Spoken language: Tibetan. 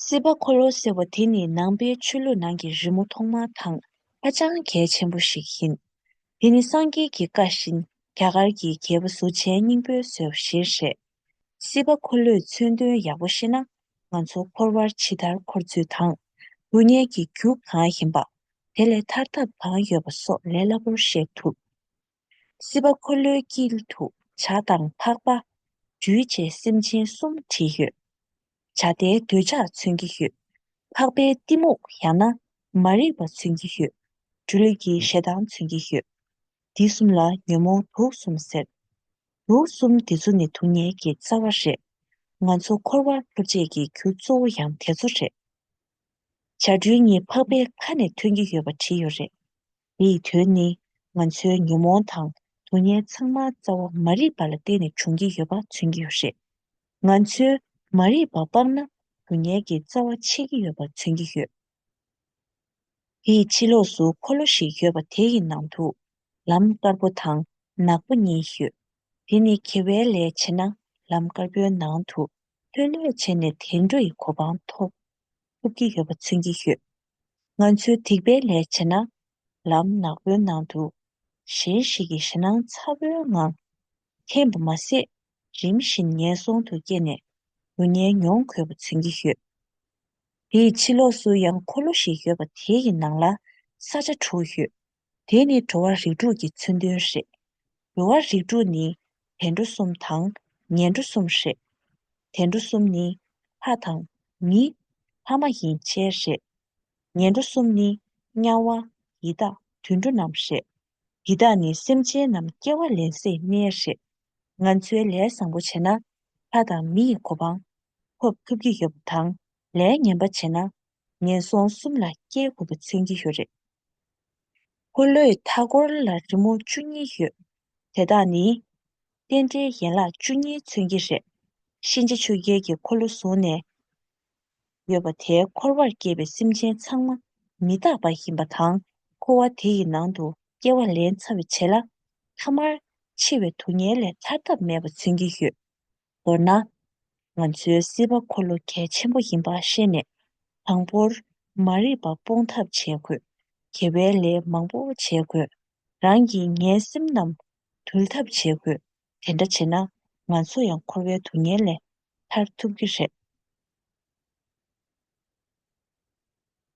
སྲིད་པ་འཁོར་ལོ་ཟེར་བ་དེ་ནི་ནང་པའི་ཆོས་ལུགས་ནང་གི་རི་མོ་ཐོག་མ་དང་ཧ་ཅང་གལ་ཆེན་པོ་ཞིག་ཡིན། དེ་ནི་སངས་རྒྱས་ཀྱི་བཀའ་བཞིན་རྒྱ་གར་གྱི་རྒྱལ་པོ་གཟུ་བྱས་སྙིང་པོའི་བཟོད་གཞིར་བཞེས། སྲིད་པ་འཁོར་ལོས་མཚོན་དོན་ཡག་པོ་ཤེས་ན་ང་ཚོ་འཁོར་བར་ཇི་ལྟར་འཁོར་ཚུལ་དང། སྡུག་བསྔལ་གྱི་རྒྱུ་གང་ཡིན་པ། དེ་ལས་ཐར་ཐབས་གང་ཡོད་པ་སོགས་ལས་སླ་པོར་ཤེས་ཐུབ། སྲིད་པ་འཁོར་ལོའི་དཀྱིལ་དུ་བྱ་དང་འཕགས་པ། འདུལ་བྱེད་སེམས་ཅན་གསུམ་བྲིས་ཡོད། བྱ་བདེ་འདོད་ཆགས་མཚོན་གྱི་ཡོད། འཕགས་པའི་གཏི་མུག་ཡང་ན་མ་རིག་པ་མཚོན་གྱི་ཡོད། སྦྲུལ་གྱི་ཞེ་སྡང་མཚོན་གྱི་ཡོད། འདི་གསུམ་ལ་ཉོན་མོངས་དུག་གསུམ་ཟེར། དུག་གསུམ་འདི་ཚོ་ནི་དུག་ཉལ་གྱི་རྩ་བ་རེད། ང་ཚོ་འཁོར་བར་ལྷུ་བཅད་ཀྱི་རྒྱུ་གཙོ་བོ་ཡང་དེ་ཚོ་རེད། བྱ་སྦྲུལ་གཉིས་འཕགས་པའི་ཁ་ནས་ཐོན་གྱི་ཡོད་པ་བྲིས་ཡོད་རེད། དེ་ཡི་དོན་ནི་ང་ཚོའི་ཉོན་མོངས་དང་དུག་ལྔའི་ཚང་མ་རྩ་བ་མ་རིག་པ་ལ་བརྟེན་ནས་བྱུང་གི་ཡོད་པ་མཚོན་གྱི་ཡོད་རེད། ང་ཚོས་མ་རིག་པ་སྤངས་ན་དུག་ལྔའི་གི་རྩ་བ་ཆད་ཀྱི་ཡོད་པ་མཚོན་གྱི་ཡོད། དེ་ཡི་ཕྱི་ལོགས་སུ་འཁོར་ལོ་ཞིག་ཡོད་པ་དེ་ཡི་ནང་དུ་ལམ་དཀར་པོ་དང་ནག་པོ་གཉིས་ཡོད། དེ་ནི་གེ་བའི་ལས་བྱེད་ན་ལམ་དཀར་པོའི་ནང་དུ་ལྷོད་ལྷོད་བྱས་ནས་དལ་འགྲོ་ཡི་གོ་འཕང་ཐོབ་ཐུབ་ཀྱི་ཡོད་པ་མཚོན་གྱི་ཡོད། ང་ཚོའི་སྡིག་པའི་ལས་བྱས་ན། ལམ་ནག་པོའི་ནང་དུ་གཞན་ཞིག་གི་ཞེད་སྣང་ཚ་བོའི་ངང་འཐེན་པ་མ་ཟད། རིམ་བཞིན་ངན་སོང་དུ་སྐྱེས་ནས་སྡུག་བསྔལ་མྱོང་དགོས་པ་མཚོན་གྱི་ཡོད། དེའི་ཕྱི་ལོགས་སུ་ཡང་འཁོར་ལོ་ཞིག་ཡོད་པ་དེའི་ནང་ལ་ས་ཆ་དྲུག་ཡོད། དེ་ནི་འགྲོ་བ་རིགས་དྲུག་གི་མཚོན་དོན་རེད། འགྲོ་བ་རིགས་དྲུག་ནི་དལ་འགྲོ་གསུམ་དང་ཉལ་འགྲོ་གསུམ་རེད། དལ་འགྲོ་གསུམ་ནི་ལྷ་དང་མི། ལྷ་མ་ཡིན་ཆེན་རེད། ཉལ་འགྲོ་གསུམ་ནི་དམྱལ་བ། ཡི་དྭགས་དུད་འགྲོ་རྣམས་རེད། ཡི་དྭགས་ནི་སེམས་ཅན་རྣམས་སྐྱེ་བ་ལེན་སའི་གནས་རེད། ང་ཚོའི་ལས་བཟང་པོ་བྱས་ན་ལྷ་དང་མི་ཡི་གོ་འཕང་ཐོབ་ཐུབ་ཀྱི་ཡོད་པ་དང་ལས་ངན་པ་བྱས་ན་ངན་སོང་གསུམ་ལ་སྐྱེ་དགོས་པ་མཚོན་གྱི་ཡོད་རེད། འཁོར་ལོའི་མཐའ་སྐོར་ལ་རི་མོ་བཅུ་གཉིས་ཡོད། དེ་དག་ནི། རྟེན་འབྲེལ་ཡན་ལག་བཅུ་གཉིས་མཚོན་གྱི་རེད། གཤིན་རྗེ་ཆུ་རྒྱལ་གྱི་འཁོར་ལོ་བཟུང་ནས་ཡོད་པ་དེ་འཁོར་བར་སྐྱེས་པའི་སེམས་ཅན་ཚང་མ་མི་རྟག་པ་ཡིན་པ་དང་འཁོར་བ་དེ་ཡི་ནང་དུ་སྐྱེ་བ་ལན་ཚ་བས་བྱེད་ལ། མཐའ་མར་འཆི་བའི་དུག་ངན་ལས་ཐར་ཐབས་མེད་པ་མཚོན་གྱི་ཡོད། མདོར་ན། ང་ཚོའི་སྲིད་པ་འཁོར་ལོ་གལ་ཆེན་པོ་ཡིན་པ་ཤེས་ནས། དང་པོར། མ་རིག་པ་སྤོང་ཐབས་བྱེད་དགོས། དགེ་བའི་ལས་མང་པོ་བྱེད་དགོས། རང་གི་ངན་སེམས་རྣམས་དུལ་ཐབས་བྱེད་དགོས། དེ་འདྲ་བྱེད་ན། ང་ཚོ་ཡང་འཁོར་བའི་དུག་ངན་ལས་ཐར་ཐུབ་ཀྱི་རེད།